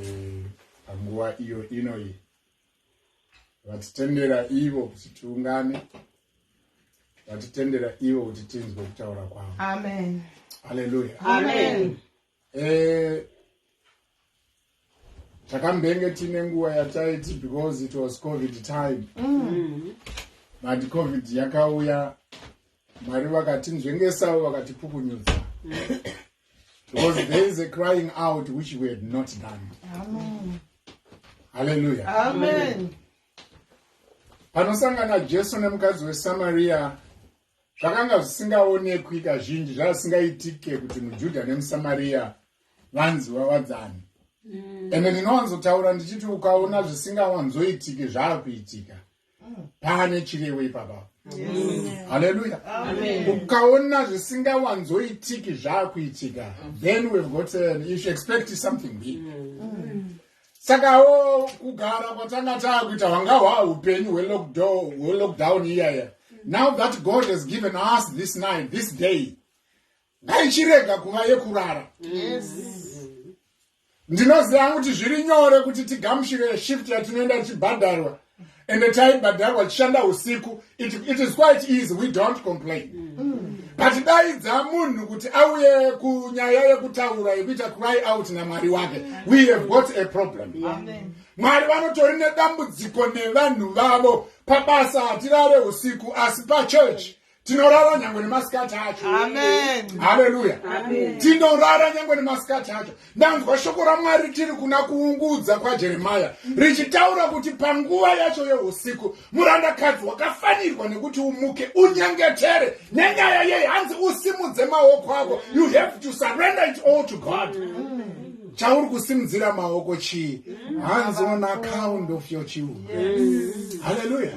Eh, panguva iyo inoyi vatitendera ivo kuti tiungane vatitendera ivo kuti tinzwe kutaura kwavo amen haleluya amen eh, takambenge tiine nguva yataiti because it was covid time mm. but covid yakauya Mwari vakatinzvengesa uye vakatipukunyudza. Because there is a crying out which we had not done. Amen. Hallelujah. Amen. Panosangana Jesu nemukadzi weSamaria zvakanga zvisingaonekwi kazhinji zvasingaitike kuti muJudha nemuSamaria vanzi vawadzani. Mm. Ende ndinowanzotaura ndichiti ukaona zvisingawanzoitike zvakuitika. pane chirevo ipapa haleluya ukaona zvisingawanzoitiki zvaakuitika then we've got an if you expect something big saka o kugara kwatanga taakuita hwanga hwaa upenyu hwelockdown iyaya now that god has given us this night this day ngaichirega kuva yekurara ndinoziva kuti zviri nyore kuti tigamushire shift yatinoenda tichibhadharwa ende taibhadharwa tichishanda usiku it, it is quite easy we don't complain mm. but daidza munhu kuti auye kunyaya yekutaura yekuita cry out namwari wake we have got a problem mwari vanotori nedambudziko nevanhu vavo pabasa hatirare usiku asi pachurch tinorara nyangwe nemasikati acho haleluya tinorara nyangwe nemasikati acho ndanzwa shoko ramwari tiri kuna kuungudza kwajeremaya richitaura kuti panguva yacho yeusiku murandakadzi wakafanirwa nekuti umuke unyengetere nenyaya yei hanzi usimudze maoko ako you have to surrender it all to god chauri kusimudzira maoko chii hanzi on account of your children haleluya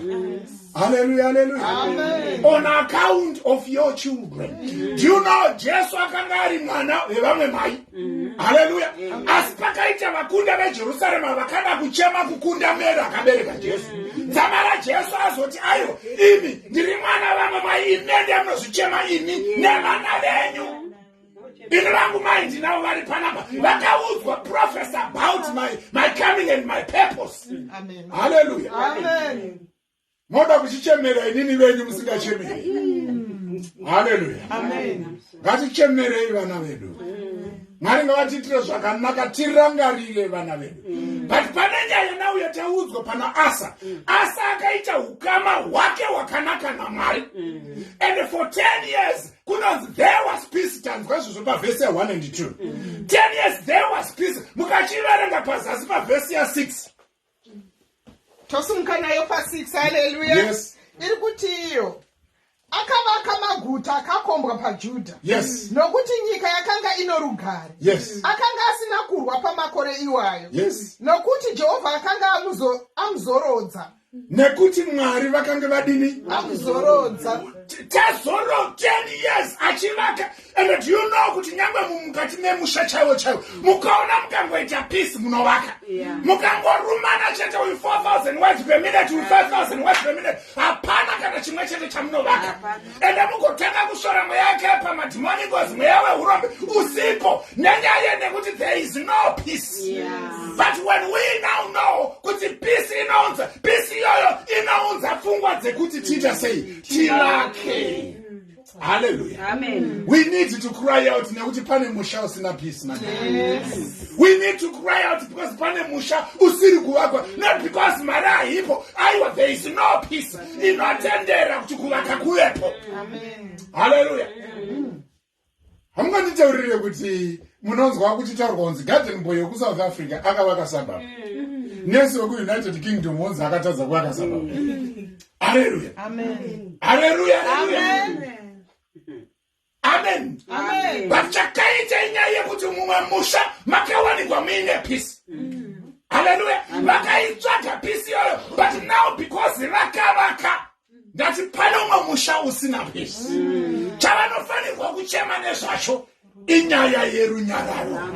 Hallelujah, hallelujah. Amen. On account of your children. Mm. Do you know Jesus akanga ari mwana wevamwe mai? Mm. Hallelujah. Mm. Asi pakaita vakunda veJerusarema vakada kuchema kukunda Mary akabereka Jesu. Mm. Dzama raJesu azoti ayo imi ndiri mwana vamwe mai imi ndiye munozvichema imi nevana venyu. ini vangu mai ndinavo vari panapa vakaudzwa prophes about my, my coming and my purpose halleluya moda kuchichemera inini venyu musingachemeri halleluya ngatichemerei vana vedu mwari ngavatiitire zvakanaka tirangarire vana vedu but pane nyaya nhau yataudzwa pana asa asa akaita ukama hwake hwakanaka namwari and for 10 years kunonzi there was peace tanzwa izvozvo pavhesi ya 1 and 2 mm. 10 years there was peace mukachiverenga pazasi pavhesi ya 6 tosumuka nayo pa6 haleluya yes. iri kuti iyo akavaka maguta akakombwa pajudha yes. nokuti nyika yakanga ino rugare yes. akanga asina kurwa pamakore iwayo yes. nokuti jehovha akanga amuzorodza amuzo nekuti mwari vakange vadini akuzorodza tazoro 10 years achivaka and do you know kuti nyangwe mumukati memusha chaiwo chaiwo mukaona mukangoita peace munovaka mukangorumana chete uyu 4000 words per minute uyu 5000 words per minute hapana kana chimwe chete chamunovaka enda mukotanga kusvora mweya yake yepamadhimoni ngozi mweya wehurombe usipo nenyaya nekuti there is no peace yeah. but when we now know kuti peace inounza peace iyoyo inounza pfungwa dzekuti tiita sei tilake haleluya we need to cry out nekuti pane musha usina peace man yes. we need to cry out because pane musha usiri kuvakwa not because mari haipo aiwa there is no peace ndinotendera kuti kuvaka kuvepo haleluya hamunganditaurire kuti munonzwa kuchitaurwa kunzi garden boy wekusouth africa akavaka sabab nesi wekuunited kingdom wonzi akatadza kuvaka sabab haleluya haleluya amen but chakaita inyaya yekuti mumwe musha makawanikwa muine pisi mm. haleluya vakaitsvaga pisi iyoyo but now because vakavaka ndati pane umwe musha usina pisi mm. chavanofanirwa kuchema nezvacho inyaya yerunyararo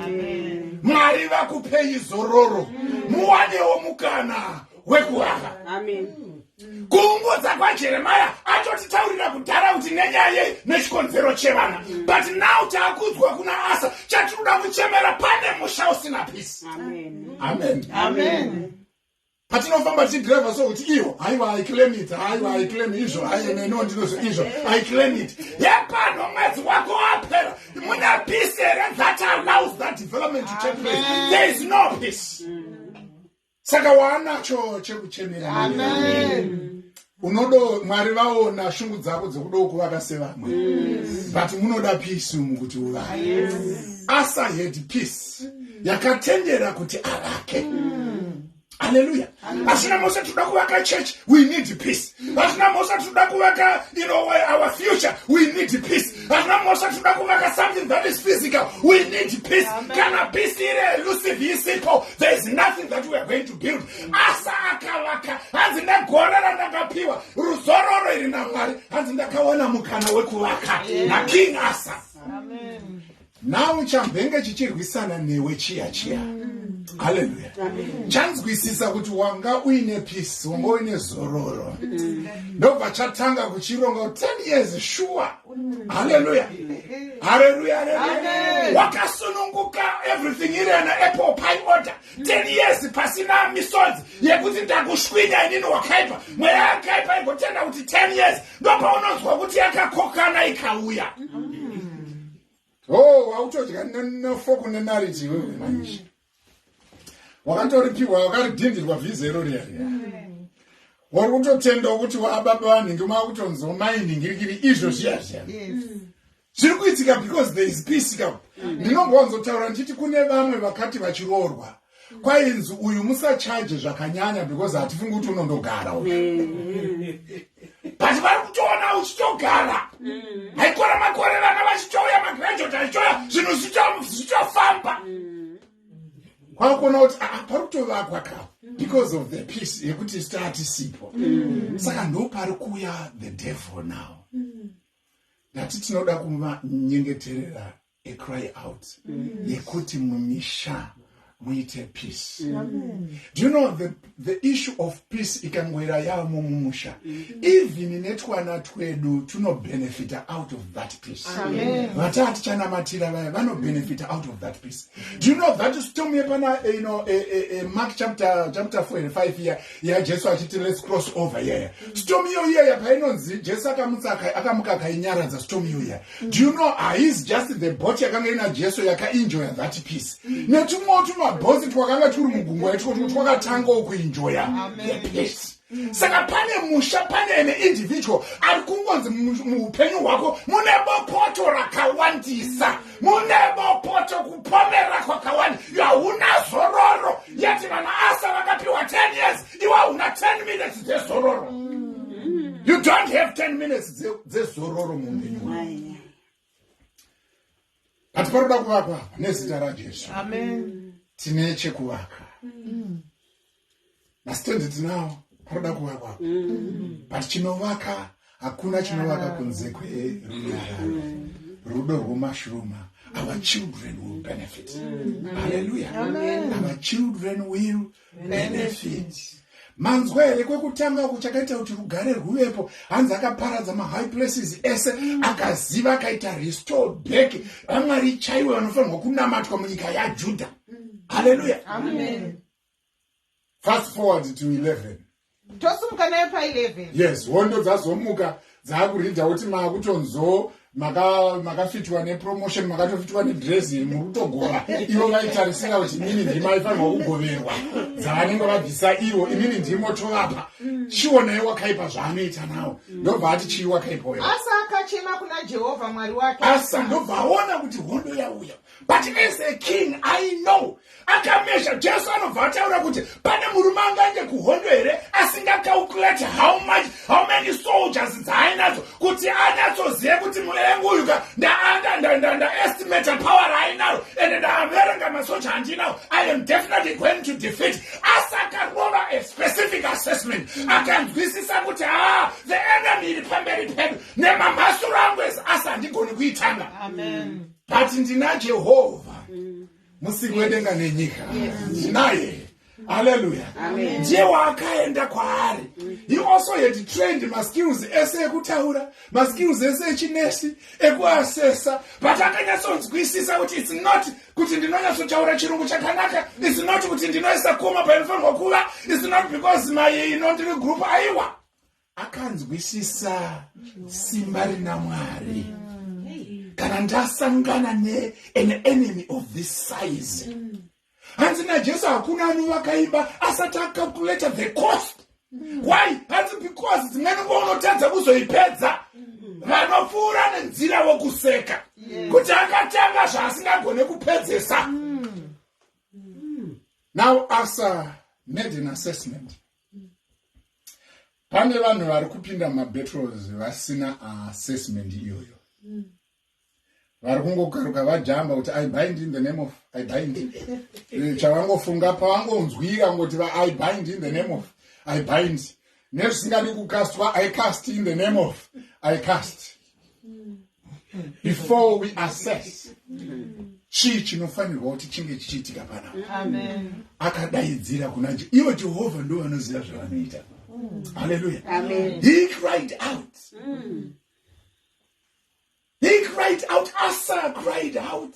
mwari vakupei zororo mm. muwanewo mukana wekuvaka kuungudza kwajeremaya atotitaurira kudhara kuti nenyaya yei nechikonzero chevana but now taakudzwa kuna asa chatinoda kuchemera pane musha usina pisi amen patinofamba tichidriva so kuti iyo haiwa iclaim it haiwa iclaim izvo aieneno ndinozo izvo iclaim it yepano mwedzi wako wapera mune pisi here that allows that development to take place there is no peace mm. saka waanacho chekuchemera unodo mwari vaona shungu dzako dzekudawo kuvaka sevamwe but munoda peace umu kuti uvaye asa had peace yakatendera kuti avake haleluya asina mose tinoda kuvaka church we need peace asina mose tinoda kuvaka you know, our future we need peace hana mosha tinoda kuvaka something that is physical we need peace kana peace iri elusive isipo there is nothing that we are going to build asa akavaka hanzi negore randakapiwa ruzororo iri namwari hanzi ndakaona mukana wekuvaka naking asa Amen. Now chambenge chichirwisana newe chiya chiya mm. haleluya chanzwisisa kuti wanga uine peace wanga uine zororo mm. ndobva chatanga kuchironga 10 years shuwa mm. haleluya haleluya haleluya wakasununguka everything iri ana apple pie order 10 years pasina misodzi yekuti ndakushwinya inini wakaipa mweya yakaipa igotenda kuti 10 years ndobva unonzwa kuti yakakokana ikauya mm -hmm. Oh, wautodya nefoku nenariti iwewe manje. Wakatoripiwa wakaridhindirwa vhiza iro riya. Wari kutotenda kuti waababa vanhingi maakutonzwa mainhingirikiri izvo zviya zviya. Zviri kuitika because there is peace ka. Mm. Ndinombwanzotaura ndichiti kune vamwe vakati vachiroorwa. kwainzi uyu musachaje zvakanyanya because hatifungi kuti unondogara u but vari kutoona uchitogara haikora mm. makore vana vachitouya magraduat achichouya zvinhu zvichitofamba mm. kwakuona kuti ah, pari kutovakwa ka because of the peace yekuti statisipo mm. saka ndopari kuuya the devil now ndati tinoda kuvanyengeterera a cry out yekuti mumisha muite peace do you know the, the issue of peace ikangoira yamo mumusha even netwana twedu tunobenefita out of that peace vataa tichanamatira vaya vanobenefita out of that peace do you know that stom yepana eh, you know, eh, eh, eh, mark chapter, chapter 4 and 5 iya yajesu achiti let's cross over iyaya stom iyo iyaya painonzi jesu akamutsa akamukakainyaradza stom iyo iyaya do you know haizi just the bot yakanga ina jesu yakaenjoya that piece netumwewo tumabhosi twakanga turi mugungu yaitiko tuko twakatangawo kuenjoya the piece saka pane musha pane ene individual ari kungonzi muupenyu hwako mune bopoto rakawandisa mune bopoto kupomera kwakawanda yahuna zororo yati vana asa vakapiwa 10 years iwe hauna 10 minutes dzezororo you don't have 10 minutes dzezororo muupenyu hwako but paroda kuvakwa apa nezita rajesu tine chekuvaka masitendi tinawo paroda kuvakwa apa but chinovaka hakuna chinovaka kunze kwerunyararo rudo rwomashuruma our children will benefit mm. hallelujah Amen. our children will benefit manzwa here kwekutanga uku chakaita kuti rugare rwuvepo hanzi akaparadza mahigh places ese mm. akaziva akaita restore back vamwari chaiwe vanofanirwa kunamatwa munyika yajudha mm. haleluya fast forward to 11 tosumuka nayo pa 11 yes hondo dzazomuka dzaakuridha kuti makutonzoo makafitwa maka nepromotion makatofitwa nedresi iri murutogova ivo vaitarisira kuti inini ndima ifanirwa kugoverwa dzavanenge vabvisa ivo inini ndimo tovapa chionai wakaipa zvaanoita nawo ndobva ati chii wakaipa uyo asa akachema kuna jehovha mwari wake asa ndobva aona kuti hondo yauya but as a king i know akamezha jesu anobva ataura kuti pane murume angaende kuhondo here asingacalculate how much how many soldiers dzaainadzo kuti anyatsozive kuti muvengi uyu ka ndaestimate power raainaro and ndaaverenga masoja andinawo i am definitely going to defeat asi akarova a specific assessment akanzwisisa kuti haa ah, the enemy iri pamberi pedu nemamhasuro angu ese asi handigoni kuitanga amen but ndina jehovha mm. musiri wedenga nenyika ndinaye haleluya ndiye waakaenda kwaari he also had trained maskills ese ekutaura maskills ese echinesi ekuasesa but akanyatsonzwisisa kuti its not kuti ndinonyatsotaura chirungu chakanaka its not kuti ndinoisa koma painofanirwa kuva its not because maye ino ndiri group aiwa akanzwisisa simba rina mwari kana ndasangana nean enemy of this size hanzi najesu hakuna anovakaimba asati acalculated the cost why hanzi because dzimweni nguva unotadza kuzoipedza vanopfuura nenzira vokuseka kuti akatanga zvaasingagone kupedzesa now asa made an assessment pane vanhu vari kupinda mabattles vasina assessment iyoyo mm. vari kungokaruka vajamba kuti i bind in the name of i bind eh, chavangofunga pavangonzwira ngoti va i bind in the name of i bind nezvisingadi kukastwa i cast in the name of i cast before we assess chii chinofanirwa kuti chinge chichiitika panavo akadaidzira kuna je ivo jehovha ndo vanoziva zvavanoita haleluya he cried out he cried out asa cried out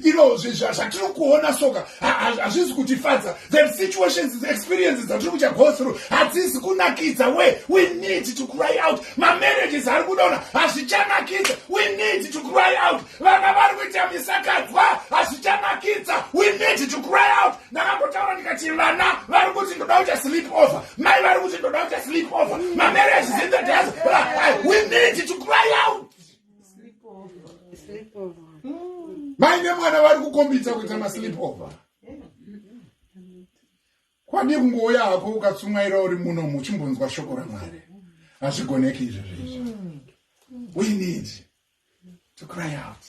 you know zvatiri kuona soka hazvizi kutifadza the situations the experiences dzatiri kucha go through hadzizi kunakidza we we need to cry out mamarriages ari kudaona hazvichanakidza we need to cry out vana vari kuita misakadzwa hazvichanakidza we need to cry out ndakambotaura ndikati vana vari kuti ndoda kuita sleep over mai vari kuti ndoda kuita sleep over mamarriages in the diaspora we need to cry out mai nemwana vari kukombidza kuita maslipover kwadii kungouya hako ukatsumwaira uri muno muchimbonzwa shoko ramwari hazvigoneki izvo zvezvo we need to cry out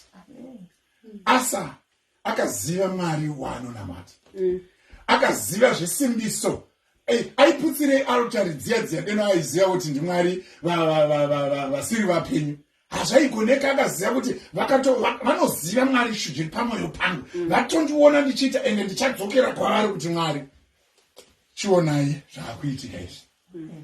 asa akaziva mwari waanonamata mm. akaziva zvesimbiso eh, aiputsirei altari dziya dziya deno aiziva kuti ndimwari vasiri vapenyu hazvaigoneka akaziva kuti vanoziva mwari zviri pamwoyo pangu mm. vatondiona ndichiita ende ndichadzokera kwavari kuti mwari chionai zvaakuitika izvi mm.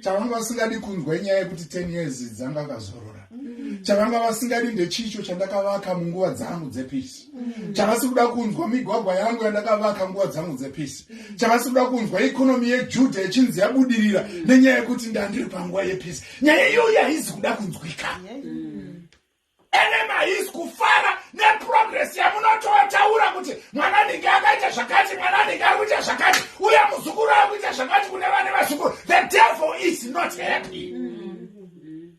chavanga vasingadi kunzwa inyaya yekuti 10 years dzanga akazorora chavanga vasingadi ndechicho chandakavaka munguva dzangu dzepisi chavasi kuda kunzwa migwagwa yangu yandakavaka nguva dzangu dzepisi chavasi kuda kunzwa ikonomi yejudha yechinzi yabudirira nenyaya yekuti ndandiri panguva yepisi nyaya iyoyo haizi kuda kunzwika yeah. Enema his kufara neprogress yamunototaura kuti mwana ninge akaita zvakati mwana ninge ari kuita zvakati uye muzukuru ari kuita zvakati kune vane vazukuru the devil is not happy mm.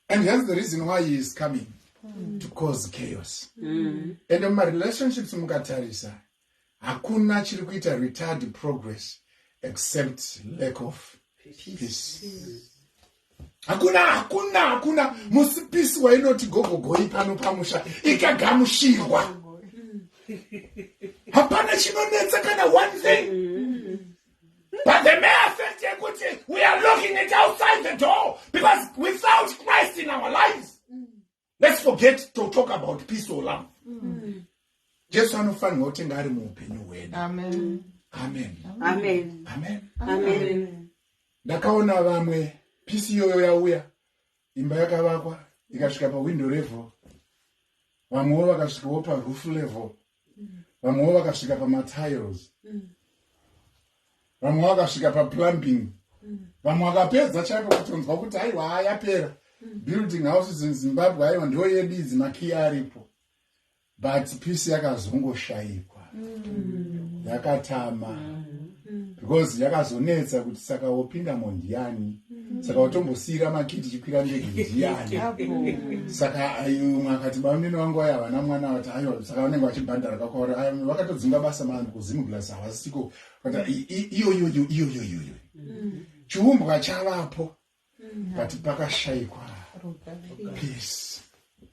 and hence the reason why he is coming mm. to cause chaos mm. and mumarelationships mukatarisa Hakuna chiri kuita retard progress except lack of peace. Hakuna, hakuna, hakuna musipisi wainoti gogogoi pano pamusha ikagamushirwa. Hapana chinonetsa kana one thing. Mm. But the mere fact yekuti we are looking it outside the door because without Christ in our lives let's forget to talk about peace or love mm. jesu anofanirwa kutenge ari muupenyu hwedu amen ndakaona vamwe pisi iyoyo yauya imba yakavakwa ikasvika pahwindo level vamwewo vakasvikawo parufu level vamwewo vakasvika pamatiles mm. vamwe vakasvika paplumbing mm. vamwe vakapedza chaipo kutonzwa kuti aiwa hayapera mm. building houses in zimbabwe aiwa ndiwo yedu idzi makii aripo but peace yakazongoshaikwa yakatama mm. because yakazonetsa kuti saka wopindamo ndiani mm. saka watombosiyira makiti chikwira ndege ndiani saka umwe akati bamunini vangu vaya havana mwana vati aiwa saka vanenge vachibhandara kakwaura vakatodzinga basa maani kuzimuglas havasisiko iyoyoyo iyoyoyoyo mm. chiumbwa chavapo but pakashaikwa peace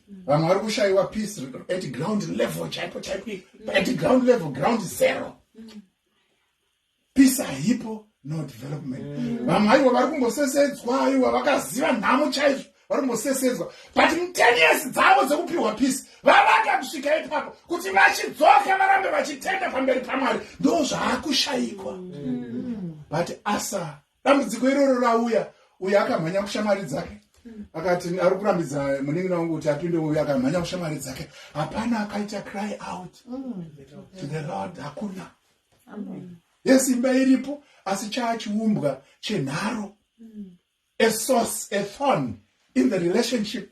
vamwe vari kushaiwa peace at ground level chaipo chaipo at ground level ground zero peace haipo no development mm. vamwe aiwa vari kumbosesedzwa aiwa vakaziva nhamo chaizvo vari kumbosesedzwa but muteniesi dzavo dzekupiwa peace vavaka kusvika ipapo kuti vachidzoka varambe vachitenda pamberi pamwari ndo zvaakushaikwa mm. but asa dambudziko iroro rauya uyo akamhanya kushamwari dzake akati ari kurambidza munin'ina wangu kuti apinde uyo akamhanya kushamwari dzake hapana akaita cry out to the lord hakuna yes imba iripo asi chaa chiumbwa chenharo a source a thorn in the relationship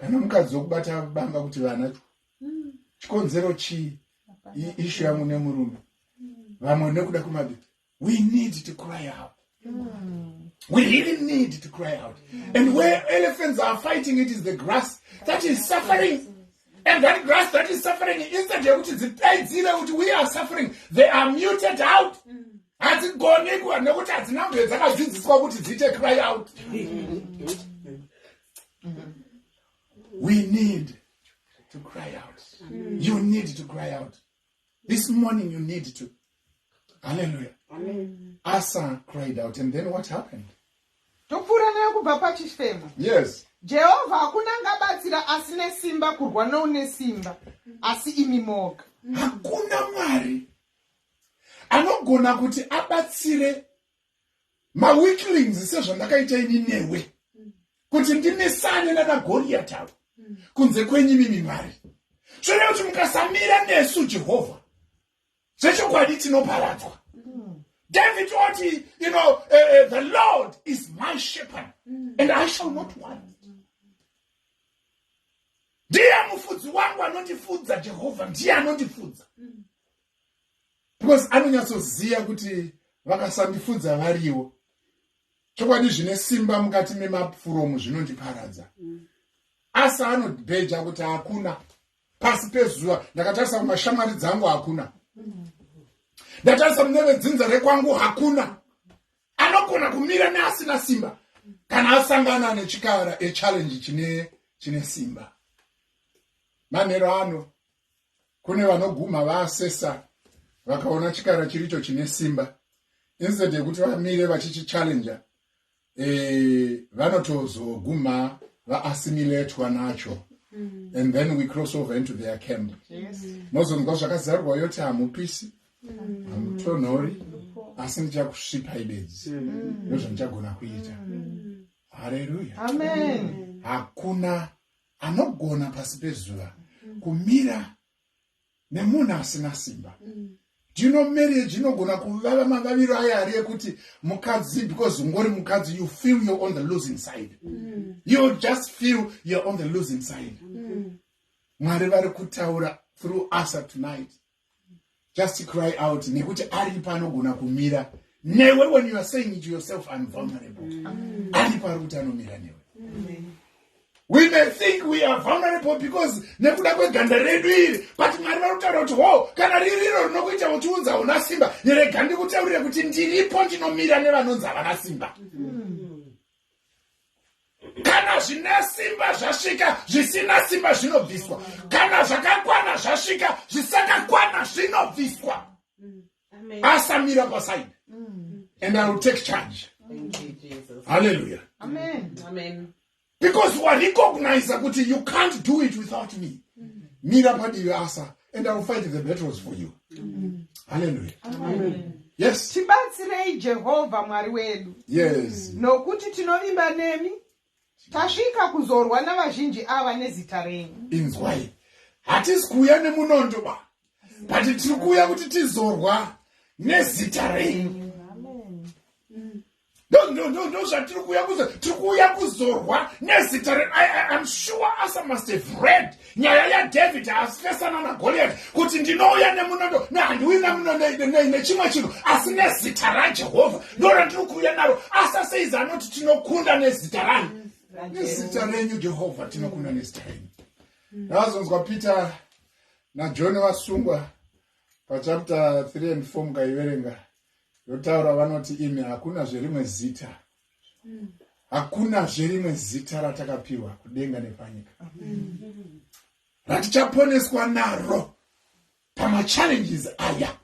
kana mukadzi wekubata banga kuti vana chikonzero chii ishu yangu nemurume vamwe nekuda kumabi we need to cry out we really need to cry out and where elephants are fighting it is the grass that is suffering and that grass that is suffering instead yekuti dzipedzire kuti we are suffering they are muted out mm. hadzigoni nekuti hadzina mbe dzakadzidziswa kuti dziite cry out we need to cry out mm. you need to cry out this morning you need to hallelujah Amen. asa cried out and then what happened topfuura nayo kubva pachifemo yes jehovha hakuna angabatsira asine simba kurwa noune simba asi imi moga hakuna mwari anogona kuti abatsire maweaklings sezvandakaita ini newe kuti ndimesane nanagoriyati avo kunze kwenyu mimi mwari zvine kuti mukasamira nesu jehovha zvechokwadi tinoparadzwa david oti you know uh, uh, the lord is my shepherd and i shall not want ndiye mufudzi wangu anondifudza jehovha ndiye anondifudza because anonyatsoziva kuti vakasandifunza variwo chokwadi zvine simba mukati memapuromu zvinondiparadza mm. asi anobheja kuti hakuna pasi pezuva ndakatarisa kumashamwari dzangu hakuna mm. ndatarisa mune vedzinza rekwangu hakuna anogona kumira neasina simba kana asangana nechikara echallenge chine chine simba manhero ano kune vanogumha vaasesa vakaona chikara chiricho chine simba instead yekuti vamire vachichichallenger e, eh, vanotozogumha vaassimilatwa nacho mm. and then we cross over into their camp mozonzwa yes. zvakazarwa yoti hamupisi mm. hamutonhori mm. asi ndichakusvipai bedzi mm. ndozvandichagona kuita mm. haleluya hakuna anogona pasi pezuva mm. kumira nemunhu asina simba mm. do you know marriage inogona kuvava mavaviro ayo ari ekuti mukadzi because ungori mukadzi you feel you're on the losing side mm. you just feel you're on the losing side mwari vari kutaura through asa tonight just cry out nekuti aripa anogona kumira newe when you are saying it yourself im vulnerable mm. aripa ari kuti anomira newe mm. we may think we are vulnerable because nekuda kweganda redu iri but mwari vari kutaura kuti ho kana riri iro rinokuita kuti unzi hauna simba neregandi kutaurire kuti ndiripo ndinomira nevanonzi havana simba mm. kana zvine simba zvasvika zvisina simba zvinobviswa kana zvakakwana zvasvika zvisakakwana zvinobviswa mm, asamira pasaidi mm. and i will take charge hallelujah because warecognize kuti you can't do it without me mm. mira padivi asa and iwill fight the battles for you halleluya yes tibatsirei jehovha mwari wedu yes nokuti tinovimba nemi tasvika kuzorwa navazhinji ava nezita renyu inzwai hatisi kuuya nemunondo ba but tiri kuuya kuti tizorwa nezita renyu ndozvatiri kuuya kuzo tiri kuuya kuzorwa nezita re im sure asa must have read nyaya yadavid asifesana nagoliati kuti ndinouya nemunondo nehandiuyi nemunondo nechimwe chinhu asi nezita rajehovha ndorandiri kuuya naro asa seizi anoti tinokunda nezita rani nezita renyu jehovha tinokunda nezita renyu ndazonzwa mm. peter najohn vasungwa pachapter 3 and 4 mukaiverenga Ndotaura vanoti imi hakuna zverimwe zita. Mm. Hakuna zverimwe zita ratakapiwa kudenga nepanyika. Mm. Ratichaponeswa naro pama challenges aya.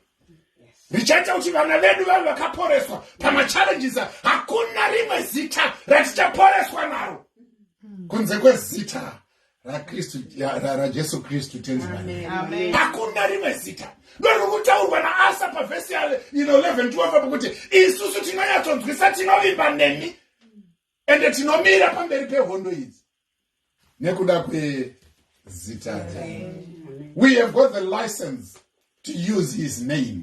Richaita kuti vana vedu vave vakaporeswa pama challenges aya. Hakuna rimwe zita ratichaporeswa naro. Mm. Kunze kwezita rakristu rajesu kristu tenzi mani hakuna rimwe zita ndoriri kutaurwa naasa pavhesi ya ino 11 12 apo kuti isusu tinonyatsonzwisa tinovimba nemi ende tinomira pamberi pehondo idzi nekuda kwezita we have got the license to use his name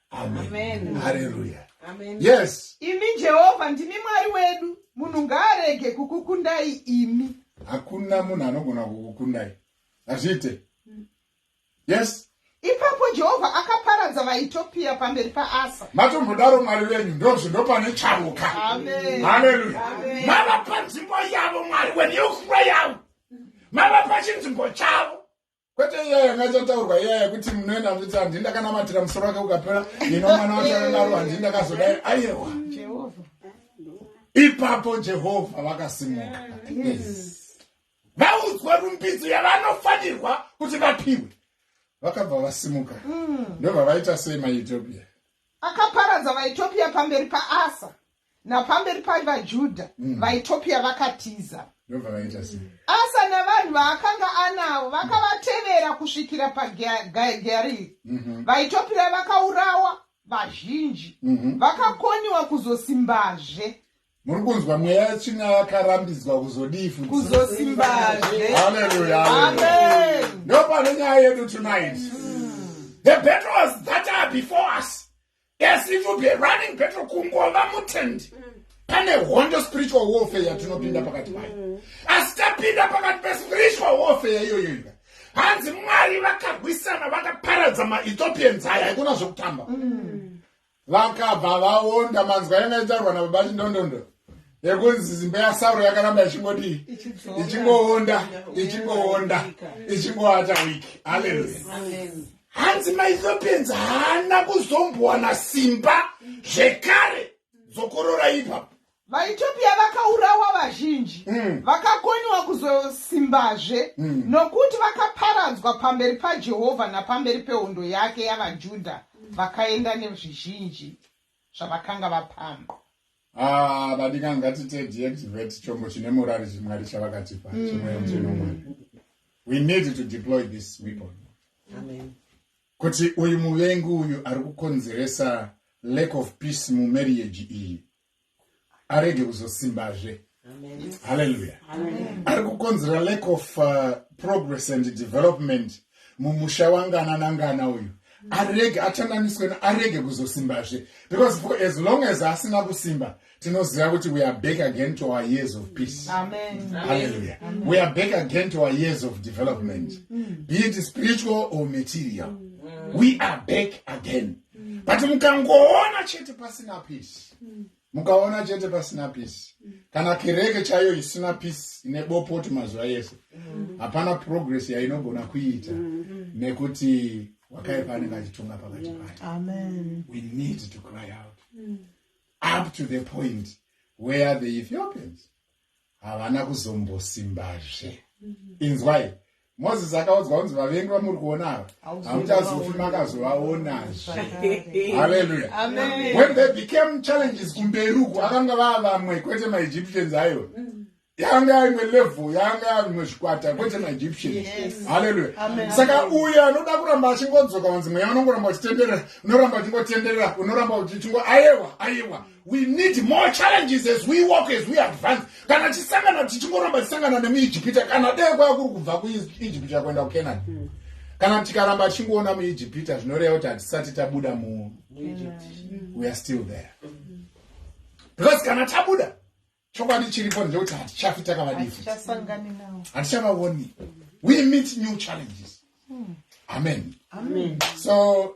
Amen. Hallelujah. Amen. Yes. Imi Jehovha ndimi Mwari wedu, munhu ngaarege kukukundai imi. Hakuna munhu anogona kukukundai. Hazviite. Mm. Yes. Ipapo Jehovha akaparadza vaEthiopia pamberi paAsa. Matombodaro Mwari wenyu ndozvo ndopane charuka. Amen. Hallelujah. Amen. Mava panzvimbo yavo Mwari wenyu yokuva yavo. Mava pachinzvimbo chavo. kwete iya yanga chataurwa iya yekuti munoenda kuti handii ndakanamatira musoro wake ukapera ino mwana wake akadaro handii ndakazodai ayewa ipapo jehovha vakasimuka vaudzwa rumbidzo yavanofanirwa kuti vapiwe vakabva vasimuka mm. ndobva vaita sei maethiopia akaparadza vaethiopia pamberi paasa napamberi paivajuda mm. vaitopia vakatiza asa navanhu vaakanga anawo vakavatevera kusvikira pageariri mhm. vaitopira vakaurawa vazhinji mhm. vakakoniwa kuzosimbazve muri kunzwa mweya yetsvina yakarambidzwa kuzodii futi kuzosimbazve haleluya amen ndopane nyaya yedu tonight mm. the battles that are before us Yes, it will be a running battle kungova mutendi. Mm. Pane hondo spiritual warfare yatinopinda pakati payo. Mm. Asi tapinda pakati pe spiritual warfare iyoyo iyoyo. Hanzi Mwari vakarwisana vakaparadza maEthiopians aya haikona zvekutamba. Mm. Vakabva vaonda manzwa yanga itarwa na baba Chindondondo. Yekunzi zimbe ya Sauro yakaramba ichingodi ichingoonda ichingoonda ichingoata wiki. Hallelujah. Amen. hanzi maethiopians haana kuzombowana simba zvekare dzokorora ipapo vaethiopia vakaurawa vazhinji mm. vakakoniwa kuzosimbazve mm. nokuti vakaparadzwa pamberi pajehovha napamberi pehondo yake yavajudha vakaenda nezvizhinji zvavakanga vapamba Ah, badika ngatite deactivate chombo chine murari chimwari chavakatipa mm. chimweyo muchenomwari we need to deploy this weapon Amen. kuti uyu muvengi uyu ari kukonzeresa lack of peace mumarriage iyi arege kuzosimbazve haleluya ari kukonzera lack of uh, progress and development mumusha wangana nangana uyu arege achanganiswe arege kuzosimbazve because for as long as asina kusimba tinoziva kuti we are back again to our years of peace hallelujah we are back again to our years of development mm. be it spiritual or material mm. we are back again mm. but mukangoona chete pasina peace mukaona chete pasina peace kana kereke chaiyo isina peace ine bopoti mazuva yese mm. hapana progress yainogona kuiita mm. nekuti wakaipa anenge achitonga pakati payo we need to cry out mm. up to the point where the ethiopians havana kuzombosimbazve inzwai moses akaudzwa kunzi vavengi vamuri kuona ava hamuchazofi makazovaonazve haleluya when they became challenges kumberi uku akanga vaa vamwe kwete maegyptians ayo mm. yanga yaimwe level yanga yaimwe zvikwata kwete maegyptians haleluya saka uyo anoda kuramba achingodzoka wanzi mweya unongoramba uchitenderera unoramba uchingotenderera unoramba uchichingo ayewa ayewa we need more challenges as we walk as we advance kana tisangana tichingoramba tisangana nemuijipita kana dee kwaya kuri kubva kuijipita kuenda kucanani mm. kana tikaramba tichingoona muijipita zvinoreva kuti hatisati tabuda mu weare still there because kana tabuda chokwadi chiripo ndechekuti hatichafi takavadifu hatichavaoni we meet new challenges mm. amen, amen. so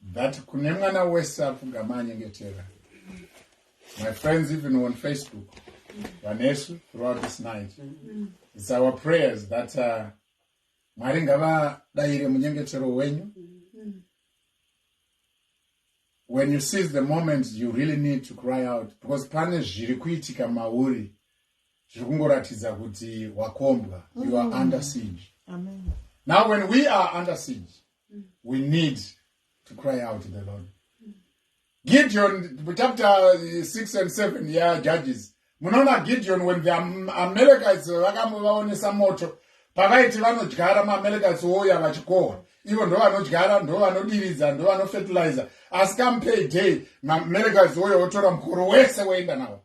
But kune mwana wese apfugama anyengetera. My friends even on Facebook vanesu throughout this night. It's our prayers that uh, Mwari ngavadaire munyengetero wenyu. When you see the moment you really need to cry out because pane zviri kuitika mauri zviri kungoratidza kuti wakombwa you are mm. under siege. Amen. Now when we are under siege we need to cry out to the lord gideon chapter 6 and 7 ya judges munoona gideon when the amalekits vakamuvaonesa moto pavaiti vanodyara maamalekits ouya vachikohwa ivo ndo vanodyara ndo vanodiridza ndo vanofertilizer asi come pay day maamalekits ouya otora mukoro wese woenda nawo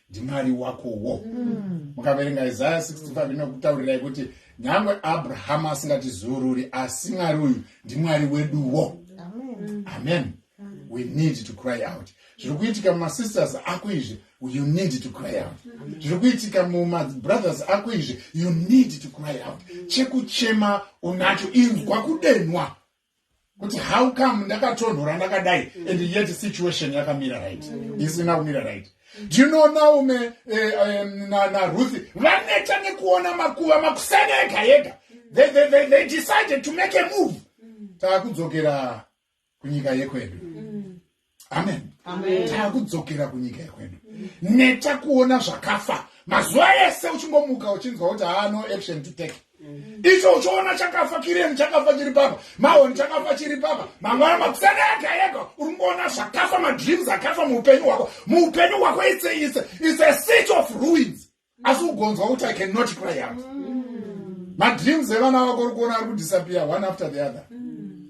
ndimwari wakowo mm. mukaverenga isaya 65 inokutaurirai kuti nyangwe abrahamu asingatizururi asi mwari uyu ndimwari weduwo amen, amen. Mm. we need to cry out zviri kuitika mumasisters ako izvi you need to cry out zviri kuitika mumabrothers ako izvi you need to cry out chekuchema unacho inzwa kudenwa kuti how come ndakatonhora ndakadai mm. and yet situation yakamira right mm. isina kumira right do you know naume eh, eh, naruthi vaneta nekuona makuva makusana ega yega mm. they decided to make a move mm. taakudzokera kunyika yekwedu mm. amen taakudzokera kunyika yekwedu neta kuona zvakafa mazuva ese uchingomuka uchinzwa kuti haano action to take mm-hmm. icho uchiona chakafa kireni chakafa chiri papa mahoni chakafa chiri papa mangwana makusana ega ega uri kungoona zvakafa madreams akafa muupenyu hwako muupenyu hwako itseyise is a seach of ruins asi ugonzwa kuti i can not cry out mm. madreams evana vako uri kuona ari kudisappear one after the other mm.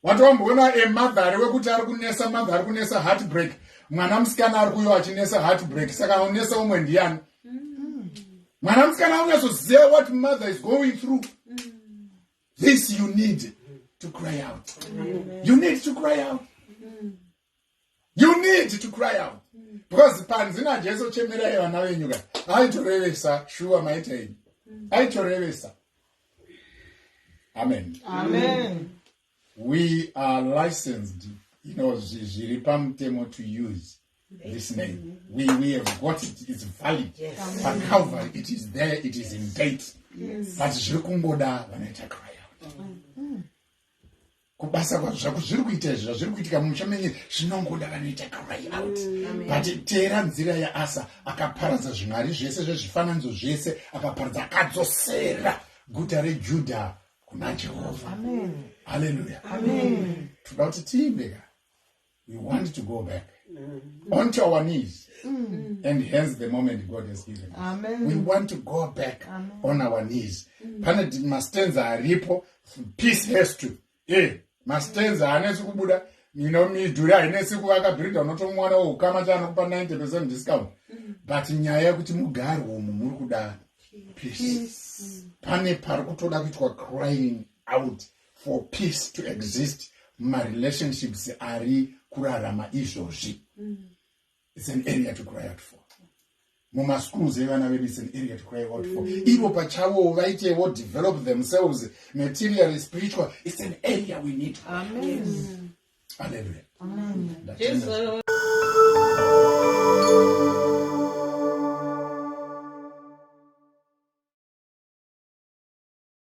watowamboona emadhari wekuti ari kunesa madha ari kunesa heartbreak mwana musikana ari kuyo achinesa heartbreak saka unesa umwe ndiyani mm. mwana musikana unyasoziva what mother is going through this you need to cry out you need to cry out you need to cry out mm. because panzi najesu chemerai vana venyu ka aitorevesa shuwa maita ini mm. aitorevesa amen amen we are licensed you know zviri pamutemo to use this name we, we have got it it's valid yes. pacover it is there it is in date yes. but zviri kungoda vanoita cry out mm. kubasa kwazvo zvako zviri kuita izvi zvazviri kuitika mumusha menye zvinongoda vanoita cry out mm, but teera nzira yaasa akaparadza zvimwari zvese zvezvifananidzo zvese akaparadza akadzosera guta rejudha kuna jehovha haleluya toda kuti tiimbeka we want to go back mm. onto our knees mm. and hence the moment god has given us Amen. we want to go back Amen. on our knees mm. pane mastenza aripo peace has to e mastenza haanesi kubuda ino midhuri hainesi kuvaka bhiridha unotomwana woukama chaanokupa 90 percent discount mm. but nyaya yekuti mugari umu muri kuda peace pane pari kutoda kuitwa crying out mm. for peace to exist marelationships ari kurarama izvozvi mm. its an area to cry out for mumaschools evana vedu its an area to cry out for mm. ivo pachavo vaitewo develop themselves materially spiritual its an area we need Amen. Alleluia. Amen. Amen.